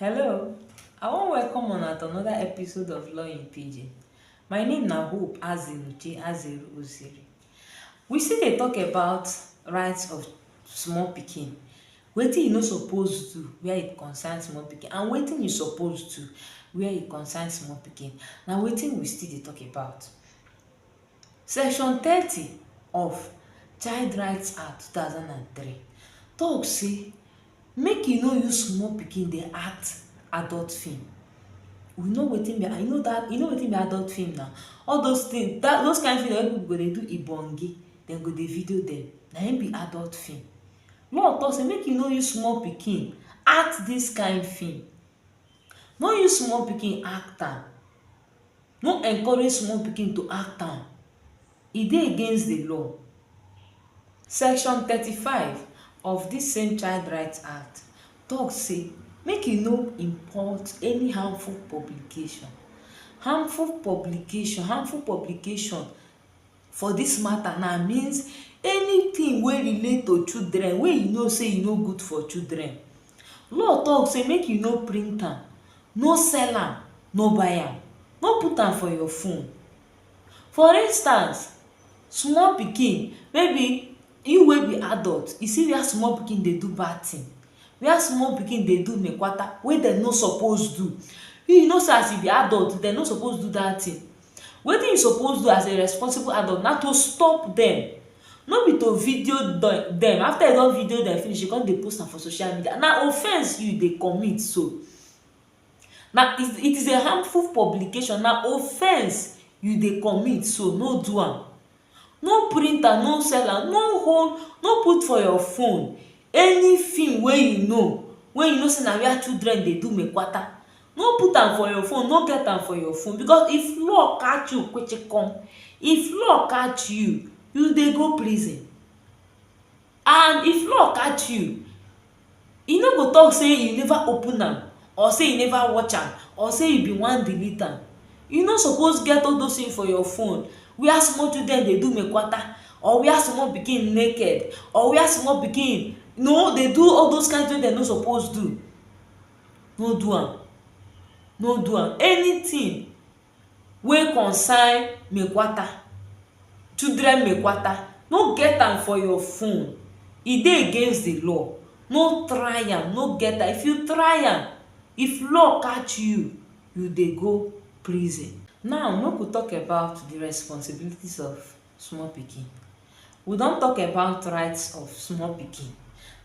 Hello, I wan welcome una to another episode of Law in Pidgin. My name na Hope Azinuche Azeru Osiri. We still dey talk about rights of small pikin, wetin you no suppose do where e concern small pikin and wetin you suppose do where e concern small pikin. Na wetin we still dey talk about. Section thirty of Child Rights Act two thousand and three talk say Make you no use small pikin dey act adult film. You know wetin be you know dat you know wetin be adult film na? All those things dat those kain film wey people go dey do ibonge, dem go dey video dem, na im be adult film. Law talk sey make you no use small pikin act dis kain film. No use small pikin act am. No encourage small pikin to act am, e dey against di law. Section thirty five of dis same Child Right Act tok say make you no import any harmful publication. Harmful publication, harmful publication for dis mata na means anytin wey relate to children wey you know sey e no good for children law talk sey make you no print am no sell am no buy am no put am for your phone for instance small pikin maybe you wey be adult you see where small pikin dey do bad tin where small pikin dey do mekwata wey dem no suppose do you you know sey as you be adult dem no suppose do dat tin Wetin you suppose do as a responsible adult na to stop dem. No be to video dem. After you don video dem finish, you go come dey post am for social media. Na offense you dey commit so. Na it it is a harmful publication. Na offense you dey commit so. No do am. no print am no sell am no hold no put for your phone any film wey you know wey you know sey na where children dey do mekwata no put am for your phone no get am for your phone because if law catch you kpechekom if law catch you you dey go prison and if law catch you e no go talk say you never open am or say you never watch am or say you bin wan delete am you no suppose get all those things for your phone where small children dey do mekwata or where small pikin naked or where small pikin no dey do all those kind things wey dem no suppose do no do am no do am anything wey concern mekwata children mekwata no get am for your phone e dey against the law no try am, no get am, if you try am if law catch you you dey go prison now make we talk about the responsibilities of small pikin we don talk about rights of small pikin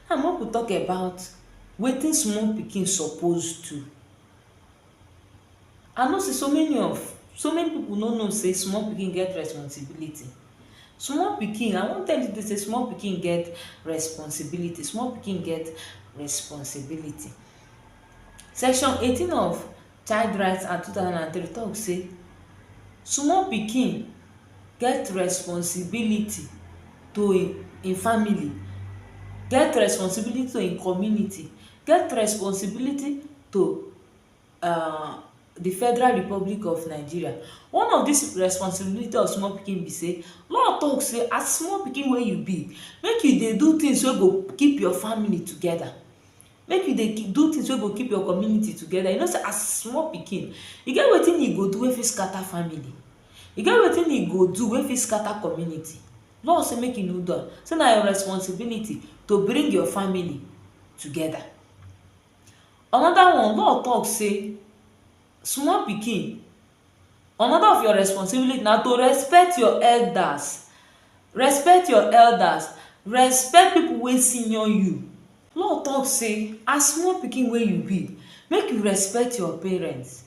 now make we talk about wetin small pikin suppose do I know sey so many of so many pipu no know sey small pikin get responsibility. Small pikin I wan tell you today sey small pikin get responsibility, small pikin get responsibility. Section eighteen of Child Right Act two thousand and three talk sey small pikin get responsibility to im im family, get responsibility to im community, get responsibility to um di Federal Republic of Nigeria. One of dis responsibility of small pikin be sey, law talk sey as small pikin wey you be, make you dey do things wey go keep your family together. Make you dey do things wey go keep your community together. You know sey as small pikin, e get wetin you go do wey fit scatter family. E get wetin you go do wey fit scatter community. Law say make you no do am. Sey na your responsibility to bring your family together. Another one, law talk sey small pikin, another of your responsibility na to respect your elders, respect your elders, respect people wey senior you. Law talk sey as small pikin wey you be, make you respect your parents,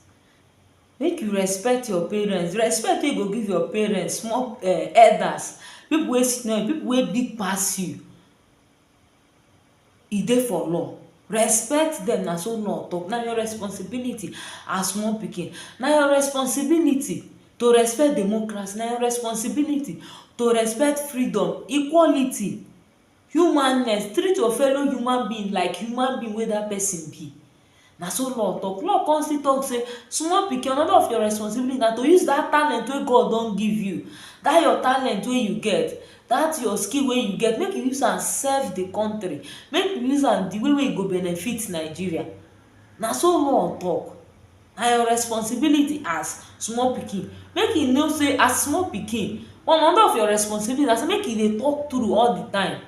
make you respect your parents. Respect wey you go give your parents, small um elders, people wey senior you, people wey big pass you. e dey for law respect dem na so law talk na your responsibility as small pikin na your responsibility to respect democracy na your responsibility to respect freedom, equality humaness, treat your fellow human being like human being wey that person be Na so law talk. Law come still talk say small pikin another of your responsibility na to use dat talent wey God don give you, dat your talent wey you get, dat your skill wey you get make you use am serve de country, make you use am de way wey e go benefit Nigeria. Na so law talk. Na your responsibility as small pikin. Make you know sey as small pikin, one another of your responsibility na sey make you dey talk true all de time.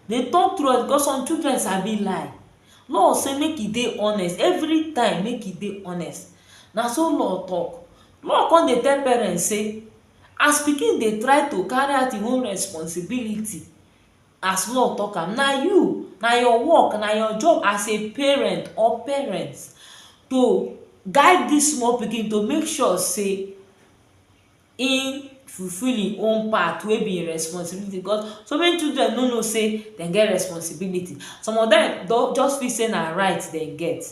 Dey talk true because some children sabi lie. Law say make e dey honest every time make e dey honest na so law talk law come dey tell parents say as pikin dey try to carry out him own responsibility as law talk am na you na your work na your job as a parent or parents to guide this small pikin to make sure say im fulfill im own part wey be im responsibility because so many children no know sey dem get responsibility. Some of dem don just feel sey na right dem get.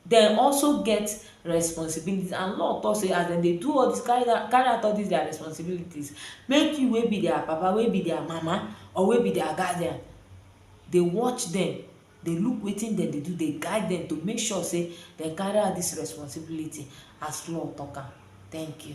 Dem also get responsibility and law talk sey as dem dey do all dis carry out carry out all dis dia responsibilities, make you wey be dia papa, wey be dia mama or wey be dia guardian dey watch dem, dey look wetin dem dey do, dey guide dem to make sure sey dem carry out dis responsibility as law talk am. Thank you.